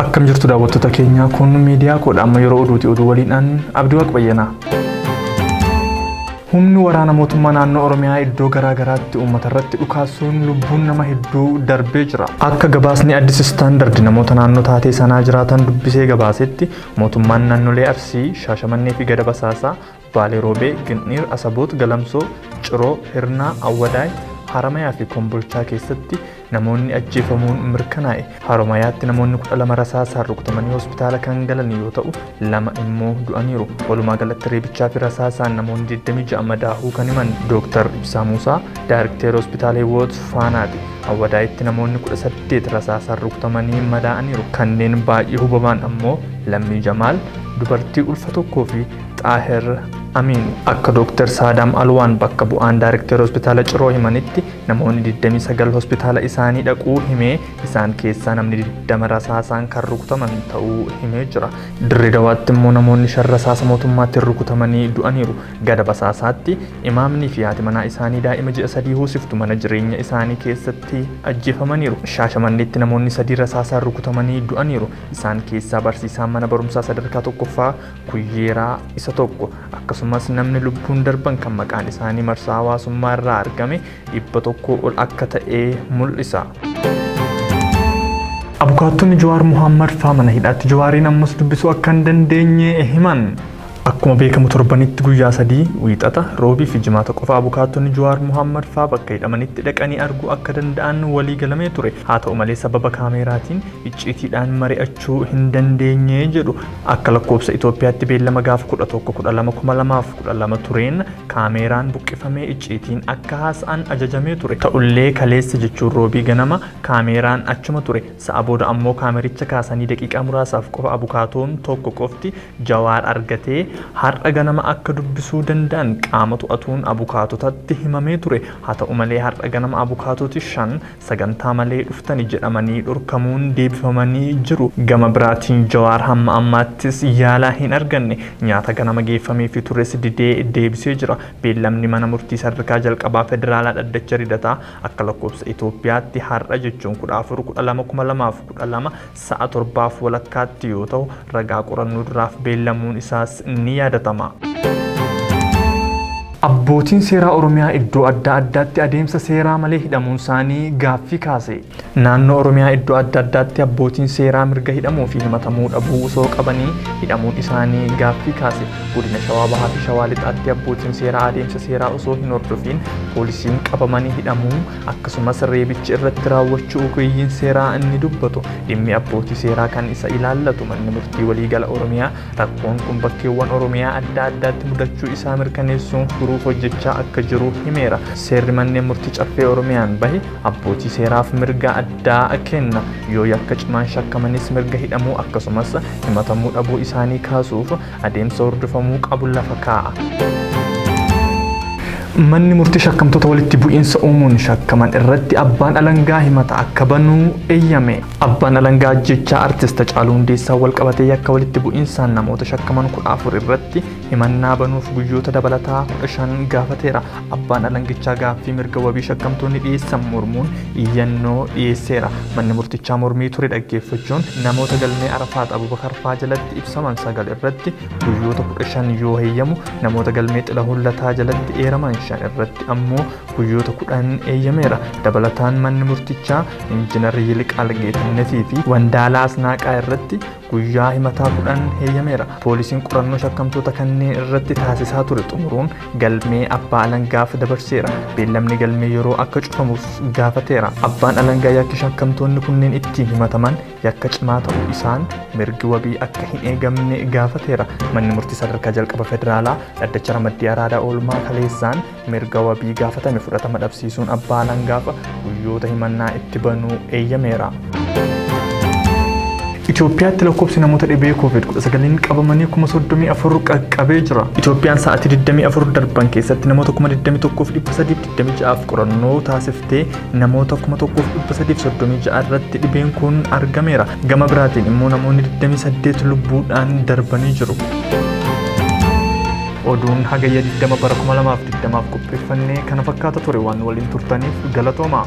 Akkam jirtu daawwattoota keenyaa kun miidiyaa koodha amma yeroo oduuti oduu waliidhaan abdii waaq bayyanaa. Humni waraana mootummaa naannoo Oromiyaa iddoo garaa garaatti uummata irratti dhukaasuun lubbuun nama hedduu darbee jira. Akka gabaasni Addis Standard namoota naannoo taatee sanaa jiraatan dubbisee gabaasetti mootummaan naannolee Arsii, Shaashamannee fi Gada Basaasaa Baalee Roobee, Gindhiir, Asaboot, Galamsoo, Ciroo, Hirnaa, Awwadaay, Haramayaa fi Kombolchaa keessatti namoonni ajjeefamuun mirkanaa'e. Haromayaatti namoonni 12 rasaasaan rukutamanii hospitaala kan galan yoo ta'u, lama immoo du'aniiru. Walumaa galatti reebichaa fi rasaasaan namoonni 26 madaahuu kan himan Dooktar Ibsaa Muusaa, Daayirikteera Hospitaala Hiwoot Faanaati. Awwadaayitti namoonni 18 rasaasaan rukutamanii madaa'aniiru. Kanneen baay'ee hubamaan ammoo Lammii Jamaal, dubartii ulfa tokkoo fi Xaahir Amiin. Akka Dooktar Saadaam Alwaan bakka bu'aan Daayrekteera Hospitaala Ciroo himanitti namoonni 29 hospitaala isaanii dhaquu himee isaan keessaa namni 20 rasaasaan kan rukutaman ta'uu himee jira. Dirree Dawaatti immoo namoonni shan rasaasa mootummaatiin rukutamanii du'aniiru. Gada Basaasaatti imaamnii fi haati manaa isaanii daa'ima ji'a sadii hoosiftu mana jireenya isaanii keessatti ajjeefamaniiru. Shaashamanneetti namoonni sadii rasaasaan rukutamanii du'aniiru. Isaan keessaa barsiisaan mana barumsaa sadarkaa tokkoffaa Kuyyeeraa isa tokko akkasumas namni lubbuun darban kan maqaan isaanii marsaa hawaasummaa irraa argame dhibba tokkoo ol akka ta'e mul'isa. Abukaattonni Jawaar Muhammad faa mana hidhaatti Jawaariin ammas dubbisuu akka hin dandeenye himan. Akkuma beekamu torbanitti guyyaa sadii wiixata, roobii fi jimaata qofa abukaattonni Jawaar Muhammad faa bakka hidhamanitti dhaqanii arguu akka danda'an walii galamee ture. Haa ta'u malee sababa kaameeraatiin icciitiidhaan mari'achuu fudhachuu hin dandeenye jedhu. Akka lakkoofsa Itoophiyaatti beellama gaafa 11-12-2012 tureen kaameeraan buqqifamee icciitiin akka haasa'an ajajamee ture. Ta'ullee kaleessa jechuun Roobii ganama kaameeraan achuma ture. Sa'a booda ammoo kaamericha kaasanii daqiiqaa muraasaaf qofa abukaatoon tokko qofti Jawaar argatee har'a ganama akka dubbisuu danda'an qaama to'atuun abukaatotatti himamee ture. Haa ta'u malee har'a ganama abukaatoti shan sagantaa malee dhuftani jedhamanii dhorkamuun deebifamanii jiru. Gama biraatiin Jawaar hamma ammaattis yaala hin arganne. Nyaata ganama geeffameefi tures didee deebisee jira. Beellamni mana murtii sadarkaa jalqabaa federaalaa dhaddacha Ridataa akka lakkoofsa Itoophiyaatti har'a jechuun 14, 12, 2012 sa'a torbaaf walakkaatti yoo ta'u, ragaa qorannoo duraaf beellamuun isaas ni yaadatama. Abbootiin seeraa Oromiyaa iddoo adda addaatti adeemsa seeraa malee hidhamuun isaanii gaaffii kaase. Naannoo Oromiyaa iddoo adda addaatti abbootiin seeraa mirga hidhamuu fi himatamuu dhabuu osoo qabanii hidhamuun isaanii gaaffii kaase. Godina Shawaa Bahaa fi Shawaa Lixaatti abbootiin seeraa adeemsa seeraa osoo hin hordofiin poolisiin qabamanii hidhamuu akkasumas reebichi irratti raawwachuu ogeeyyiin seeraa inni dubbatu dhimmi abbootii seeraa kan isa ilaallatu manni murtii waliigala Oromiyaa rakkoon kun bakkeewwan Oromiyaa adda addaatti mudachuu isaa mirkaneessuun furuuf hojjechaa akka jiru himeera. Seerri manneen murtii caffee Oromiyaan bahe abbootii seeraaf mirga addaa kenna. Yoo yakka cimaan shakkamanis mirga hidhamuu akkasumas himatamuu dhabuu isaanii kaasuuf adeemsa hordofamuu qabu lafa kaa'a. Manni murtii shakkamtoota walitti bu'iinsa uumuun shakkaman irratti abbaan alangaa himata akka banuu eeyyame. Abbaan alangaa ajjechaa artist Hacaaluu Hundeessaa walqabatee yakka walitti bu'iinsaan namoota shakkaman kudha afur irratti himannaa banuuf guyyoota dabalataa kudha shan gaafateera. Abbaan alangichaa gaaffii mirga wabii shakkamtoonni dhiyeessan mormuun iyyannoo dhiyeesseera. Manni murtichaa mormii ture dhaggeeffachuun namoota galmee Arafaat Abubakar faa jalatti ibsaman sagal irratti guyyoota 15 yoo heeyyamu namoota galmee Xilahuun Lataa jalatti eeraman shan irratti ammoo guyyoota 10 eeyyameera. Dabalataan manni murtichaa Injinar Yiliqaal Geetannetii fi Wandaalaa Asnaaqaa irratti guyyaa himataa kudhan heeyyameera. Poolisiin qorannoo shakkamtoota kanneen irratti taasisaa ture xumuruun galmee abbaa alangaaf dabarseera. Beellamni galmee yeroo akka cufamuuf gaafateera. Abbaan alangaa yakki shakkamtoonni kunneen ittiin himataman yakka cimaa ta'uu isaan mirgi wabii akka hin eegamne gaafateera. Manni murtii sadarkaa jalqaba federaalaa dhaddacha ramaddii araadaa oolmaa kaleessaan mirga wabii gaafatame fudhatama dhabsiisuun abbaa alangaaf guyyoota himannaa itti banuu eeyyameera. Itoophiyaatti lakkoofsi namoota dhibee COVID-19 qabamanii 34,000 qaqqabee jira. Itoophiyaan sa'aatii 24 darban keessatti namoota 21,326f qorannoo taasiftee namoota 1,336 irratti dhibeen kun argameera. Gama biraatiin immoo namoonni 28 lubbuudhaan darbanii jiru. Oduun Hagayya 20 bara 2020f qopheeffannee kana fakkaata ture waan nu waliin turtaniif galatoomaa.